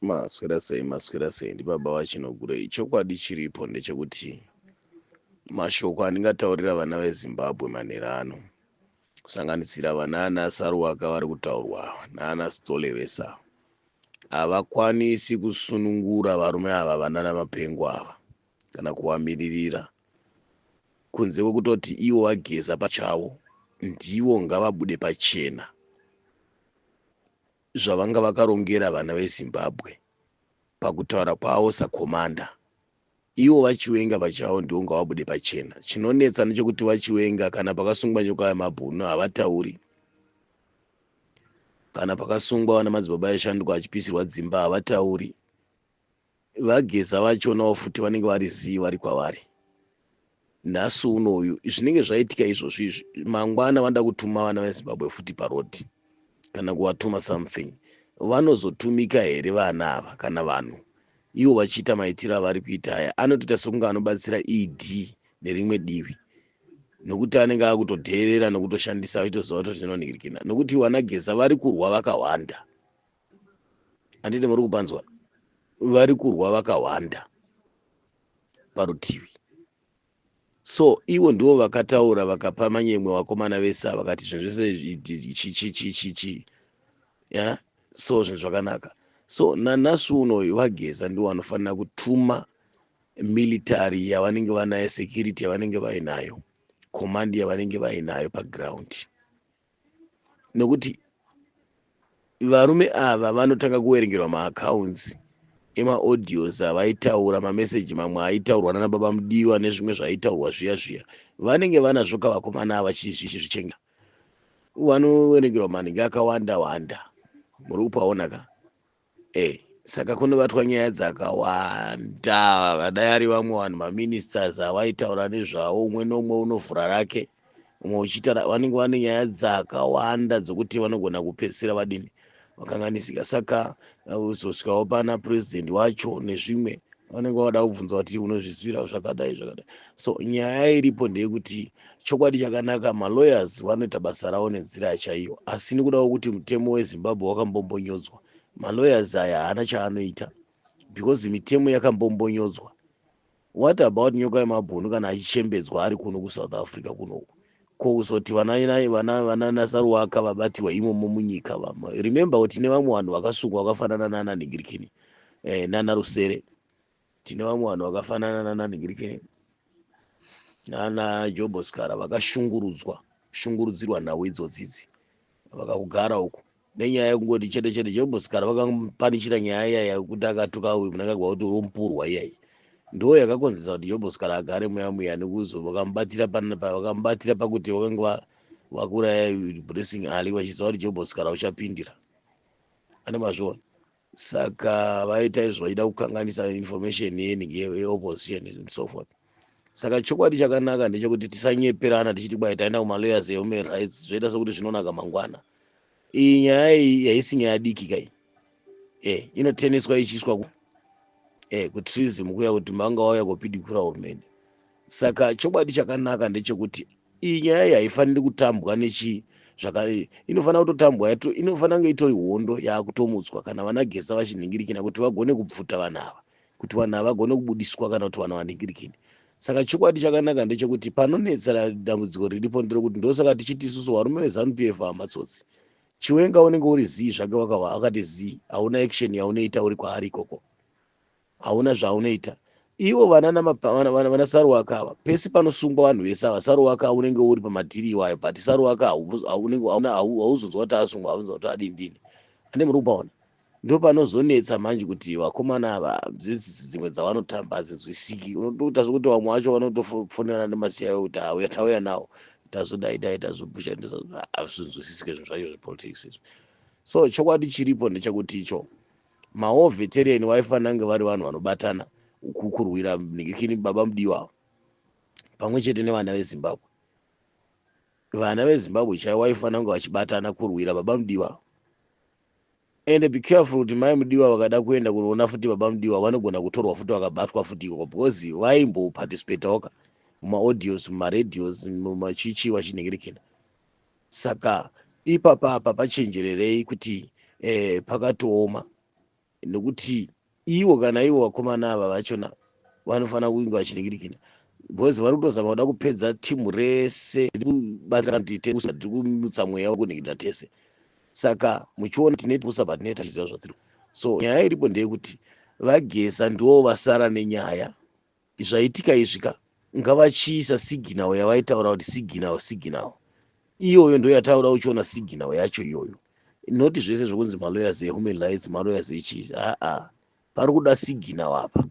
Maswera sei maswera sei ndibaba vachinogurei chokwadi chiripo ndechekuti mashoko andingataurira vana vezimbabwe manhero ano kusanganisira vana ana saruwaka vari kutaurwa naana stole vese ava havakwanisi kusunungura varume ava vanana mapengo ava kana kuvamiririra kunze kwekutoti ivo vageza pachavo ndivo ngavabude pachena zvavanga vakarongera vana vezimbabwe pakutaura kwavo sakomanda ivo vachiwenga pachavo ndivo ngavabude pachena chinonetsa nechekuti vachiwenga kana pakasungwa nyoka yemabhunu havatauri kana pakasungwa vana madzibaba yashanduka achipisirwa dzimba havatauri vageza vachonawo futi vanenge vari zii vari kwavari nhasi uno uyu zvinenge zvaitika izvozvi izvi mangwana vanoda kutuma vana vezimbabwe futi parodi kana kuvatuma something vanozotumika here vana ava kana vanhu ivo vachiita maitiro avari kuita aya anotoita sokunge anobatsira ed nerimwe divi nokuti anenge akutodheerera nokutoshandisa aitoziva kuti zvinonhirikina nokuti vanageza vari kurwa vakawanda handiti muri kupanzwa vari kurwa vakawanda parutivi so ivo ndivo vakataura vakapa manyemwe vakomana vese vakati zvinhu zvese ya so zvinhu zvakanaka so nanhasi unoyu vageza ndivo vanofanira kutuma military yavanenge vanayo security yavanenge vainayo command yavanenge vainayo paground nokuti varume ava vanotanga kuwerengerwa maaccounts emaaudios avaitaura mameseji mamwe aitaurwa nana baba mudiwa nezvimwe zvaitaurwa zviya zviya vanenge vanazvo kavakomana ava chizvichenga vanowerengerwa manhingi akawanda wanda muri kupaona ka Hey, saka kunobatwa nyaya dzakawanda vadai ari vamwe vanhu maministers avaitaura nezvavo umwe neumwe unovhura rake umwe uchiita vanenge vane nyaya dzakawanda dzokuti vanogona kupedzisira vadini vakanganisika saka uzosvikawo pana president wacho nezvimwe vanenge vada kubvunza kuti unozvizivirawo zvakadai zvakadai so nyaya iripo ndeyekuti chokwadi chakanaka malawyers vanoita basa ravo nenzira chaiyo asi nekudawo kuti mutemo wezimbabwe wakambombonyodzwa malawyers aya haana chaanoita because mitemo yakambombonyodzwa what about nyoka yemabhunu kana achichembedzwa ari kuno kusouth africa kunoku Ko kuzoti vana vana vana nasaruwaka vabatirwa imomo munyika vama remember kuti tine vamwe vanhu vakasungwa vakafanana nana nigirikini eh, nana rusere tine vamwe vanhu vakafanana nana nigirikini nana joboskara vakashungurudzwa shungurudzirwa nhau idzodzidzi vakakugara uku nenyaya yekungoti chete chete chembosikana vakapanichira nyaya iyaya yekuti akatuka uyu munangagwa kuti urompurwa iyayi ndo yakakonzesa kuti jobhosikara agare muya muya nekuzo vakamubatira vakamubatira pakuti vakange vakuraya blessing ali vachiziva kuti jobhosikara uchapindira ane mazviona Saka vaita izvo vaida kukanganisa information yeningi yeopposition and so forth. Saka chokwadi chakanaka ndechekuti tisanyeperana tichiti kwai taenda kumalawyers ehuman rights zvoita sekuti zvinonaka mangwana. Iyi nyaya iyi haisi nyaya diki kai. Eh, inoteneswa ichiiswa ku eh kutrizim kuya kuti manga wauya kopidikura hurumende. saka chokwadi chakanaka ndechekuti iyi nyaya iyi haifaniri kutambwa nechii zvaka inofanira kutotambwa yato inofanira kunge itori hondo yaakutomutswa kana vana gesa vachinhingirikina kuti vagone kubvuta vanhu ava kuti vanhu ava vagone kubudiswa kana kuti vanhu vanhingirikini saka chokwadi chakanaka ndechekuti panonetsera dambudziko riripo nderokuti ndosaka tichiti isusu varume vezanup f hamatsotsi chiwenga unenge uri zii zvake wakava akati zii hauna action yaunoita uri kwaari ikoko hauna zvaunoita ivo vana saruwaka ava pese panosungwa vanhu vese ava saruwaka unenge uri pamatiri iwayo but saruwaka hauzonzwa kuti asungwa hauzonzwa kuti adindini ande muri kupaona ndo panozonetsa manje kuti vakomana ava dzimwe dzavanotamba hadzizwisiki unotoita zvekuti vamwe vacho vanotofonerana nemasiya yo kuti auya tauya nawo tazodai dai tazobusha hazvinzwisisike zvinhu zvacho zvepolitics izvi so chokwadi chiripo ndechekuti icho Mawo veteran waifanira kunge vari vanhu vanobatana kukurwira nigikini baba mudiwa pamwe chete nevana vezimbabwe vana vezimbabwe chaivo waifanira kunge vachibatana kurwira baba mudiwa ende be careful kuti mai mudiwa vakada kuenda kunoona futi baba mudiwa vanogona kutorwa futi vakabatwa futi ikoko because vaimboparticipatoka mumaaudios mumaradios mumachichi vachinhingirikina saka ipapa apa pachenjererei kuti eh, pakatooma nokuti ivo kana ivo vakomana ava vachona vanofanira kunge vachiningirikina bcause vari kutozama kuda kupedza timu rese rikubatirantitiri kumutsa mweya wekuningirira tese saka muchiona tine pusa patine tachiziva zvatiri so nyaya iripo ndeyekuti vagesa ndiwo vasara nenyaya zvaitika izvi ka ngavachiisa signal yavaitaura kuti signal signal iyoyo ndo yataura uchiona signal yacho iyoyo noti zvese zvekunzi malawyers ehuman rights malawyers echii aa pari kuda signal apa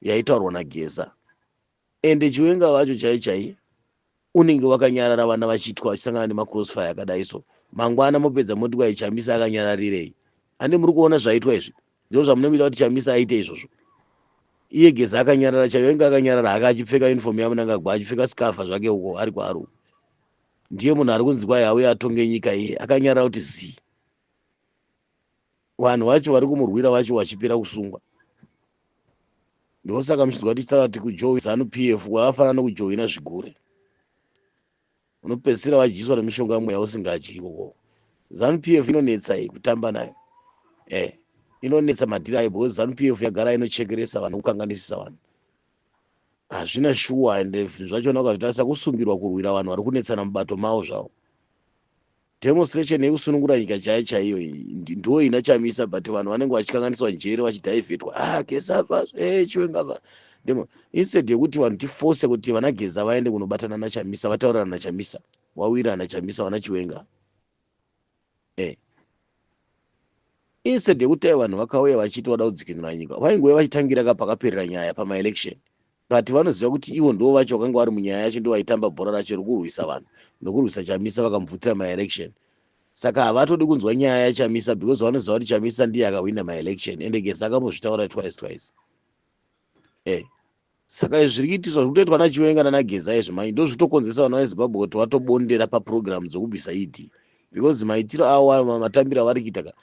yaitaurwa nageza ende chiwenga vacho chai chai Unenge wakanyarara vana vachiitwa vachisangana nemacrossfire akadai so. Mangwana mopedza moti kwahi Chamisa akanyararirei. Handi muri kuona zvaitwa izvi? Ndizvo zvamunomuita kuti Chamisa aite izvozvo. Iye Geza akanyarara chaiyo ainge akanyarara hake achipfeka uniform yaMnangagwa achipfeka scarf zvake uko ari kwaRu. Ndiye munhu ari kunzi kwahi auye atonge nyika iye akanyarara kuti zii. vanhu vacho vari kumurwira vacho vachipera kusungwa ndosaka muchinzwa tichitaura kuti kujoin zanu p f kwakafanana nokujoina zvigure unopedzisira vadyiswa nemishonga mweya usingadyi ikoko zanu p f inonetsa iyi kutamba nayo e inonetsa madhiri ayo because zanu p f yagara inochekeresa vanhu kukanganisisa vanhu hazvina shuwa ende zvachona ukazvitarisa kusungirwa kurwira vanhu vari kunetsana mubato mavo zvavo Demonstration yekusunungura nyika chaiyo chaiyo iyi ndiwo ina Chamisa but vanhu vanenge vachikanganiswa njere vachidhaivhetwa ah Geza bva eh Chiwenga bva ndimo instead yekuti vanhu tiforce kuti vana Geza vaende kunobatana na Chamisa vataurana na Chamisa wawira na Chamisa vana Chiwenga eh instead yekuti vanhu vakauya vachiti vada kudzikinura nyika vaingove vachitangira ka pakaperera nyaya pama election but vanoziva kuti ivo ndivo vacho vakanga vari munyaya yacho ndivo vaitamba bhora racho rekurwisa vanhu nokurwisa chamisa vakamubvutira maelection saka havatodi kunzwa nyaya yachamisa because vanoziva kuti chamisa ndiye akahwina maelection ende gesa akambozvitaura twice twice e eh, saka zviri kuitiswa zviri kutoitwa nachiwenga nanageza izvi manje ndo zvitokonzesa vana vezimbabwe kuti vatobondera paprogramu dzokubvisa ed because maitiro awo matambiro avari kuita ka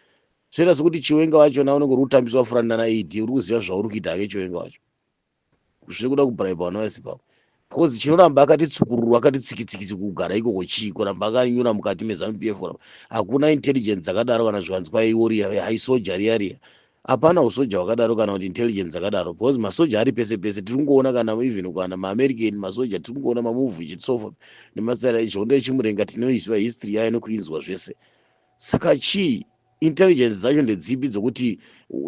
zvoita sekuti chiwenga vachona unenge uri kutambiswa furani nana ed uri kuziva zvauri kuita hake chiwenga wacho zvekuda kubraiba vana vese pavo because chinoramba akati tsukururu akati tsikitsikitsi kugara ikoko chii kuramba akanyura mukati mezanu p f kuramba hakuna intelligence dzakadaro kana zvivanzi kwaiori haisoja riya riya hapana usoja hwakadaro kana kuti intelligence dzakadaro because masoja ari pese pese tiri kungoona kana even kana maamerican masoja tiri kungoona mamuvi chisofa nemasitara izvonda echimurenga tinoiziva history yayo nekuinzwa zvese Saka chii? Intelligence dzacho ndedzipi dzokuti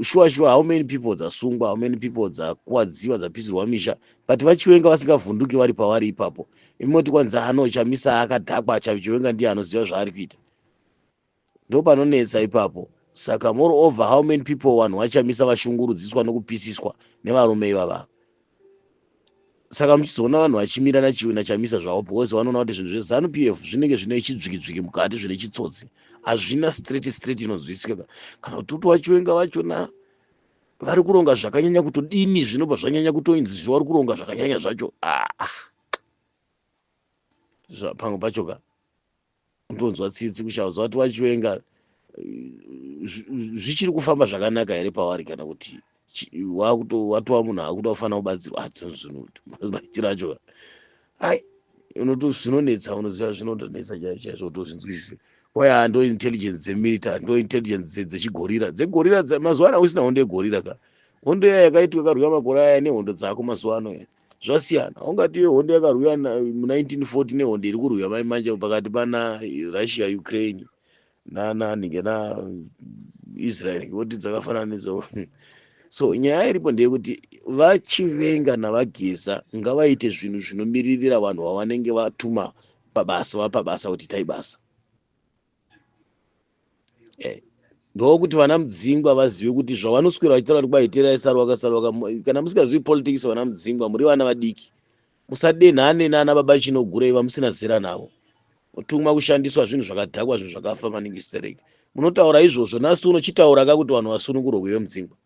shuwa shuwa how many people dzasungwa, how many people dzakuwadziwa, dzapisirwa misha but vachiwenga vasingavhunduki vari pavari ipapo. Imi moti kwanzi ano chamisa akadhakwa chachiwenga ndiye anoziva zvaari kuita. Ndopanonetsa ipapo. Saka moreover how many people vanhu vachamisa vashungurudziswa nokupisiswa nevarume ivava. saka muchizoona vanhu vachimira nachiwi nachamisa zvavo because vanoona kuti zvinhu zvezanu p f zvinenge zvine chidzwikidzwiki mukati zvine chitsotsi hazvina straight straight inonzwisisika kana kuti uti vachiwenga vachona vari kuronga zvakanyanya kutodini zvinobva zvanyanya kutoinzi zvi vari kuronga zvakanyanya zvacho ah. pamwe pacho ka unotonzwa tsitsi kushauza vati vachiwenga zvichiri kufamba zvakanaka here pavari kana kuti watova munhu akuda kufanira kubatsirwa adzonzunutmaitiro ah, acho ai unoto zvinonetsa unoziva zvinonetsa chaizvo utozvinzwisise waya ndo intelligence dzemilitary ndo intelligence dzechigorira dzegorira mazuva ano usina hondo yegorira ka hondo yaya yakaitwa karwiwa makore aya nehondo dzako mazuva ano zvasiyana haungati hondo yakarwiwa mu1940 nehondo iri kurwiwa mai manje pakati pana russia ukraine nananike na israel ngekuti dzakafanana nedzo so nyaya iripo ndeyekuti vachivenga navageza ngavaite zvinhu zvinomiririra vanhu vavanenge vatuma pabasa vapabasa kuti itai basa eh, ndokuti vana mudzingwa vazive kuti zvavanoswera vachitaura kuti kwaiterai sarwa kasarwa kana musingazivi politics vana mudzingwa muri vana vadiki musadenhane nana baba chinogurei vamusina zera navo mutumwa kushandiswa zvinhu zvakadhakwa zvinhu zvakafa maningi stereki munotaura izvozvo nhasi unochitaura ka kuti vanhu vasunungurwa kuve mudzingwa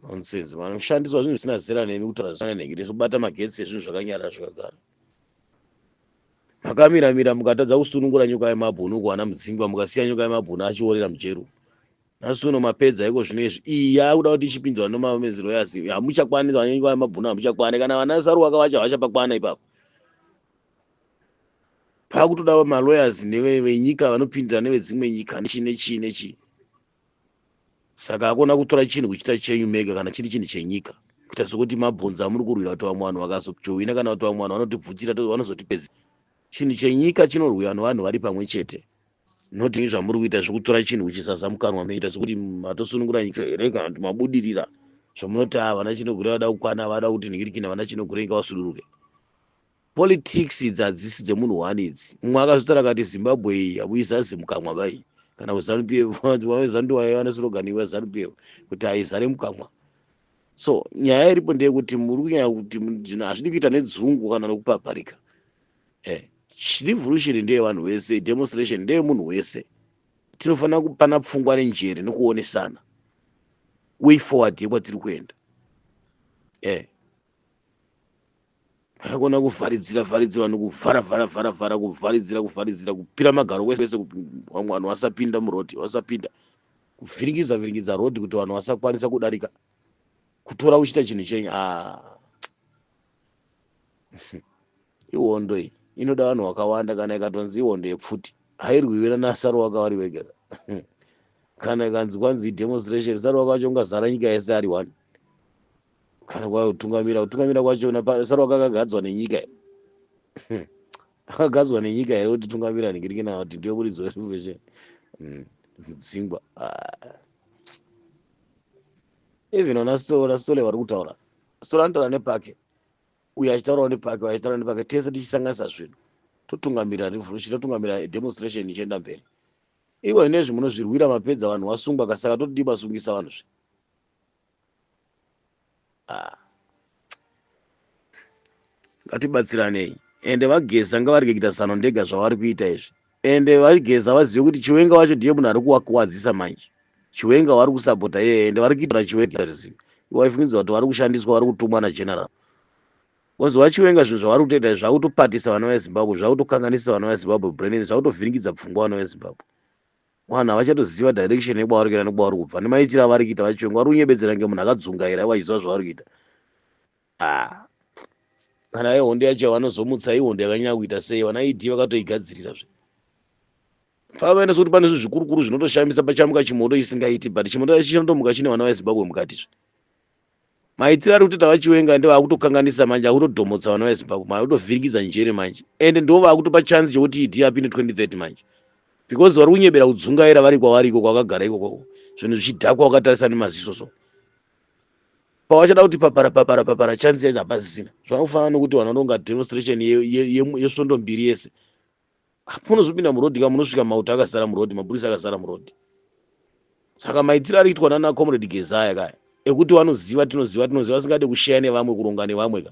nonsense vanoshandiswa zvinhu zvisina zera nemi kutaura zvisina nhengereso bata magetsi ezvinhu zvakanyarara zvakagara makamira mira mukatadza kusunungura nyoka yemabhunu kuana mudzingwa mukasiya nyoka yemabhunu achiorera mujeru nhasi uno mapedza iko zvino izvi iyi yaakuda kuti ichipinzwa nomamezero yasi hamuchakwanisa vane nyoka yemabhunu hamuchakwane kana vana saruwaka vacho havachapakwana ipapo paakutoda maloyers nevenyika vanopindira nevedzimwe nyika nechii nechii nechii saka akona kutora chinhu kuchita chenyu mega kana chiri chinhu chenyika kuita sokuti mabhonzo amuri kurwira kuti vamwe vanhu vakazojohwina kana kuti vamwe vanhu vanotibvutira vanozotipedza chinhu chenyika chinorwiwa nevanhu vari pamwe chete notii zvamuri kuita zvekutora chinhu kuchizaza mukanwa meita sokuti matosunungura nyika here kana kuti mabudirira zvamunoti a ah, vana chinogure vada kukwana vada kuti nhikirikina vana chinogure nyika vasuduruke Politics idzi hadzisi dzemunhu one idzi. Mumwe akazvitara akati Zimbabwe iyi hamuyi zazi mukamwa vai kana kuZanu PF vave Zanu ndiwaye vane slogan iva Zanu PF kuti haizare mukamwa. So nyaya iripo ndeyekuti muri kunyaya kuti zvinhu hazvidi kuita nedzungu kana nokupaparika. Eh, revolution ndeye vanhu vese, demonstration ndeye munhu wese. Tinofanira kupana pfungwa nenjere nokuonesana way forward yekwatiri kuenda. Eh. haikona kuvharidzira vharidzira vanhu kuvhara vhara vhara vhara kuvharidzira kuvharidzira kupira magaro kwese kwese vamwe vanhu vasapinda murodhi vasapinda kuvhiringidza vhiringidza rodhi kuti vanhu vasakwanisa kudarika kutora uchiita chinhu chenyu a ah. ihondo iyi inoda vanhu vakawanda kana ikatonzi ihondo yepfuti hairwiwira nasaro waka wari wega kana ikanzi kwanzi idemonstration saro waka wacho ungazara nyika yese ari one kana kwava kutungamira kutungamira kwachona sarwa kakagadzwa nenyika here akagadzwa nenyika here kuti tungamira nigirikina kuti ndiyo muridzi werevolution hmm, mudzingwa ah. even ona sitola sitole vari kutaura sitola anotaura nepake uyo achitaurawo nepake achitaura nepake tese tichisanganisa zvinhu totungamira revolution totungamira demonstration ichienda mberi ivo inezvi munozvirwira mapedza vanhu wasungwa kasaka totodii masungisa vanhu zve ah. ngatibatsiranei ende vageza ngavarege kuita zano ndega zvavari kuita izvi ende vageza vazive kuti chiwenga wacho ndiye munhu ari kuwakuwadzisa manje chiwenga wari kusapota yeye ende vari kuitira chiwenga rizivi iwaifungidzwa kuti vari kushandiswa vari kutumwa nageneral bcoz vachiwenga zvinhu zvavari kutoita izvi zvakutopatisa vana vezimbabwe zvakutokanganisa vana vezimbabwe brainin zvakutovhiringidza pfungwa vana vezimbabwe Vanhu havachatoziva direction yekwavari kuenda nekwavari kubva nemaitiro avari kuita vachichonga vari kunyebedzera kunge munhu akadzungaira ivo vachiziva zvavari kuita ah. kana ihondo yacho yavanozomutsa ihondo yakanyanya kuita sei vana ed vakatoigadzirira zve pavaenda sekuti pane zvinhu zvikurukuru zvinotoshamisa pachamuka chimoto isingaiti but chimoto chacho chinotomuka chine vana vezimbabwe mukati zve maitiro ari kutoita vachiwenga ende vaakutokanganisa manje akutodhomotsa vana vezimbabwe manje akutovhiringidza njere manje ende ndo vaakutopa chance chekuti idi apinde 2030 manje because vari kunyebera kudzungaira vari kwavari iko kwakagara iko kwako zvinhu zvichidhakwa wakatarisa nemaziso so pawachada kuti papara papara papara chance yaizi hapasisina zvakufana nokuti vanhu vanonga demonstration yesvondo mbiri yese pamunozopinda muroad ka munosvika mauto akazara muroad mapurisa akazara muroad saka maitiro ari kuitwa nana comrade gezaya kaya ekuti vanoziva tinoziva tinoziva vasingade kushaya nevamwe kuronga nevamwe ka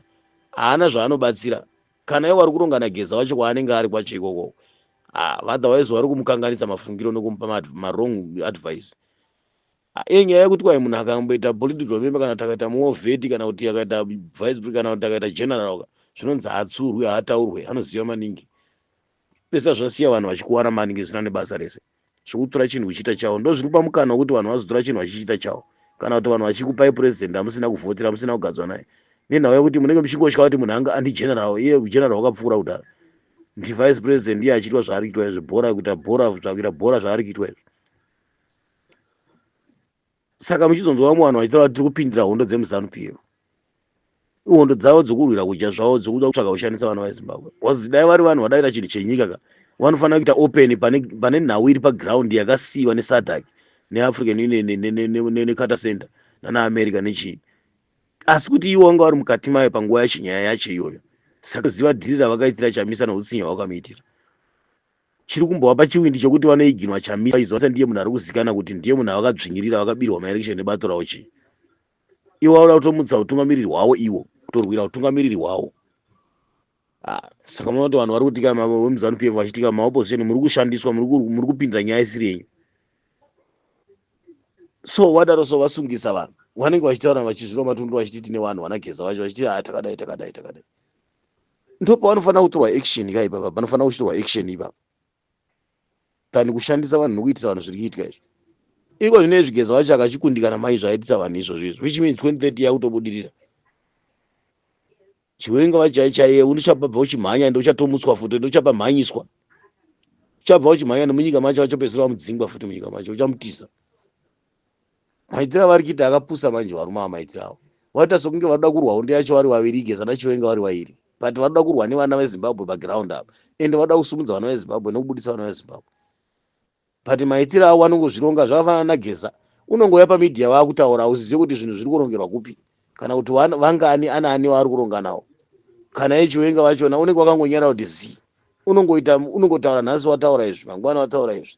haana zvaanobatsira kana ivo vari kuronga nageza wacho kwaanenge ari kwacho ikoko ah, otherwise vari kumukanganisa mafungiro nekumupa marong advice Iyo nyaya yekuti kwai munhu akamboita political member kana kuti akaita muovheti kana kuti akaita vice pre kana kuti akaita general ka zvinonzi haatsurwi haataurwe anoziva maningi pesa zvasiya vanhu vachikuwara maningi zvisina nebasa rese zvekutora chinhu kuchiita chavo ndo zviri kupa mukana wekuti vanhu vazotora chinhu vachichiita chavo kana kuti vanhu vachikupai president hamusina kuvhotera hamusina kugadzwa naye nenhau yekuti munenge muchingotya kuti munhu anga andi general iye general wakapfuura kudhara ndi vice president iye achiitwa zvaari kuitwa izvi bhora kuita bhora kutsvakira bhora zvaari kuitwa izvi saka muchizonzwa vamwe vanhu vachitaura kuti tiri kupindira hondo dzemuzanu piyo ihondo dzavo dzokurwira kudya zvavo dzokuda kutsvaga kushandisa vana vezimbabwe wazozi dai vari vanhu vadaita chinhu chenyika ka vanofanira kuita open pane nhau iri paground yakasiyiwa nesadac neafrican union necata center nanaamerica nechii asi kuti ivo vanga vari mukati mayo panguva yacho nyaya yacho iyoyo saka ziva dhiri ravakaitira chamisa noutsinye hwakamiitira Chiri kumbovapa chiwindi chokuti vanoiginwa Chamisa Izonsa ndiye munhu ari kuzikana kuti ndiye munhu avakadzvinyirira vakabirwa maelection nebato ravo chii. Ivo vauda kutomutsa utungamiriri hwavo ivo kutorwira utungamiriri hwavo. Ah, saka munoona kuti vanhu vari kutika vemuzanu PF vachitika maopposition muri kushandiswa muri kupindira nyaya isiri yenyu. So vadaro so vasungisa vanhu vanenge vachitaura vachizviroma tundura vachiti tine vanhu vanageza vacho vachiti ah, takadai takadai takadai. ndo pavanofanira kutorwa action ka ipapa panofanira kuchitorwa action ipapa tani kushandisa vanhu nokuitisa vanhu zviri kuitika izvo iko zvino ezvigeza vacho akachikundikana mai zvaitisa vanhu izvozvo izvo which means 2030 yakutobudirira chiwenga vachai chaiye unichabva uchimhanya ende uchatomutswa futi ende uchabva mhanyiswa uchabva uchimhanya nemunyika macho achopedzisira vamudzingwa futi munyika macho uchamutiza maitira vari kuita akapusa manje varume ava maitira avo vaita sokunge vanoda kurwa hondo yacho vari vaviri igeza nachiwenga vari vairi but vanoda kurwa nevana vezimbabwe paground apa ende vanoda kusumudza vana vezimbabwe nekubudisa vana vezimbabwe but maitira avo vanongozvironga zvakafanana nageza unongouya pamidhiya vakutaura hauzizive kuti zvinhu zviri kurongerwa kupi kana kuti vangani ana ani waari kuronga nawo kana yechiwenga vachona unenge wakangonyara kuti zii unongoita unongotaura nhasi wataura izvi mangwana wataura izvi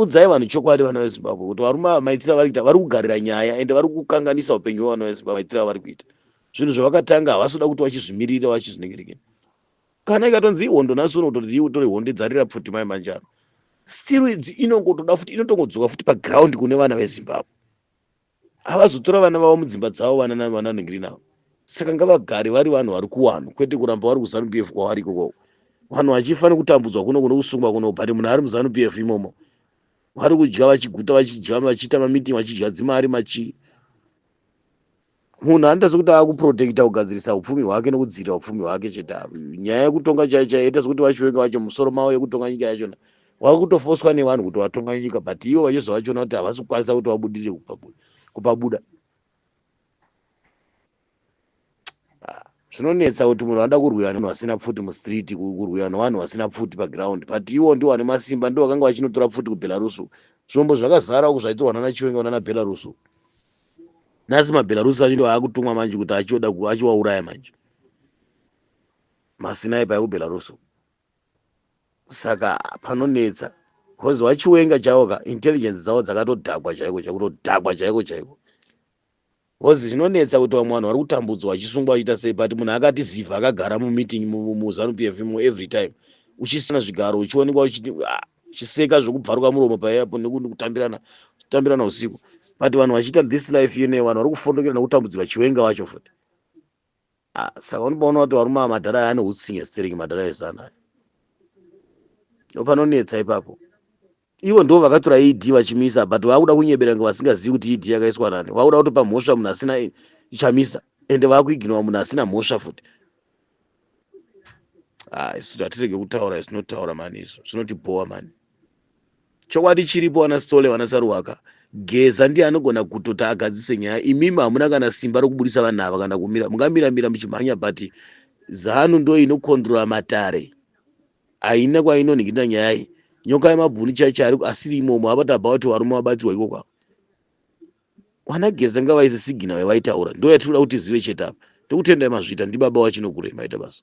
Udzai vanhu chokwadi vana vezimbabwe kuti varume ava maitiro avari kuita vari kugarira nyaya ende vari kukanganisa upenyu hwevana vezimbabwe maitiro avari kuita zvinhu zvavakatanga havasi kuda kuti vachizvimiririra vachizvinengerekera kana ikatonzi ihondo nhasi uno kutonzi iwe utori hondo idzarira pfuti mai manjano still inongotoda futi inotongodzoka futi paground kune vana vezimbabwe havazotora vana vavo mudzimba dzavo vana nani vana vanenge rinavo saka ngavagari vari vanhu vari kuwanhu kwete kuramba vari kuzanu p f kwavari ikokoko vanhu vachifanira kutambudzwa kuno kuno kusungwa kuno but munhu ari muzanu p f imomo vari kudya vachiguta vachidya vachiita mamiting vachidya dzimari machii munhu anoita sekuti akuprotecta kugadzirisa upfumi hwake nokudzivirira upfumi hwake chete nyaya yekutonga chai chai ita sekuti vachiwenga vacho musoro mavo yekutonga nyika yachona Wave kutofoswa nevanhu kuti vatonga nyika but ivo vachizova vachiona kuti havasi kukwanisa kuti vabudirire kupabuda. Ah, zvinonetsa kuti munhu anoda kurwiwa nevanhu vasina pfuti mustreet, kurwiwa nevanhu vasina pfuti paground but ivo ndivo vane masimba, ndivo vakanga vachinotora pfuti kuBelarus. Zvombo zvakazara uku zvaitorwa nana Chiwenga kunana Belarus. Nhasi maBelarus acho ndiwo akutumwa manje kuti achioda achiwauraya manje. Masinayi paye kuBelarus. Saka panonetsa because vachiwenga chavo ka intelligence dzavo dzakatodhakwa chaiko chakutodhakwa chaiko chaiko because zvinonetsa kuti vamwe vanhu vari kutambudzwa vachisungwa vachiita sei but munhu akati ziva akagara mumeeting muzanu p f mo every time uchisina zvigaro uchionekwa ah, uchiseka zvekubvaruka muromo paepo nekutambirana kutambirana usiku but vanhu vachiita this life yene vanhu vari kufondokera nekutambudzirwa chiwenga vacho futi Ah, saka unobaona kuti varume ava madhara aya anehutsinye stering madhara ezana aya ndopanonetsa ipapo ivo ndo vakatora ed vachimisa but vakuda kunyebera kunge vasingazivi kuti ed yakaiswa nani vakuda kutopa mhosva munhu asina ichamisa ende vakuiginowa munhu asina mhosva futi ah, isu hatirege kutaura isinotaura mani izvo zvinotibhowa mani Chokwadi chiripo ana Sithole vana Saruwaka Geza ndiye anogona kutoti agadzise nyaya imimi hamuna kana simba rokubudisa vanhu ava kana kumira mungamira mira muchimhanya but zanu ndo inokondrola matare haina kwainonhikita nyaya iyi nyoka yemabhuni chaicho ari asiri imomo apa tabva kuti varume vabatirwa iko kwavo vana geza ngavaise sigina yavaitaura ndo yatiri kuda kuti zive chete apa ndokutendai mazvita ndibaba wachinokurema ita basa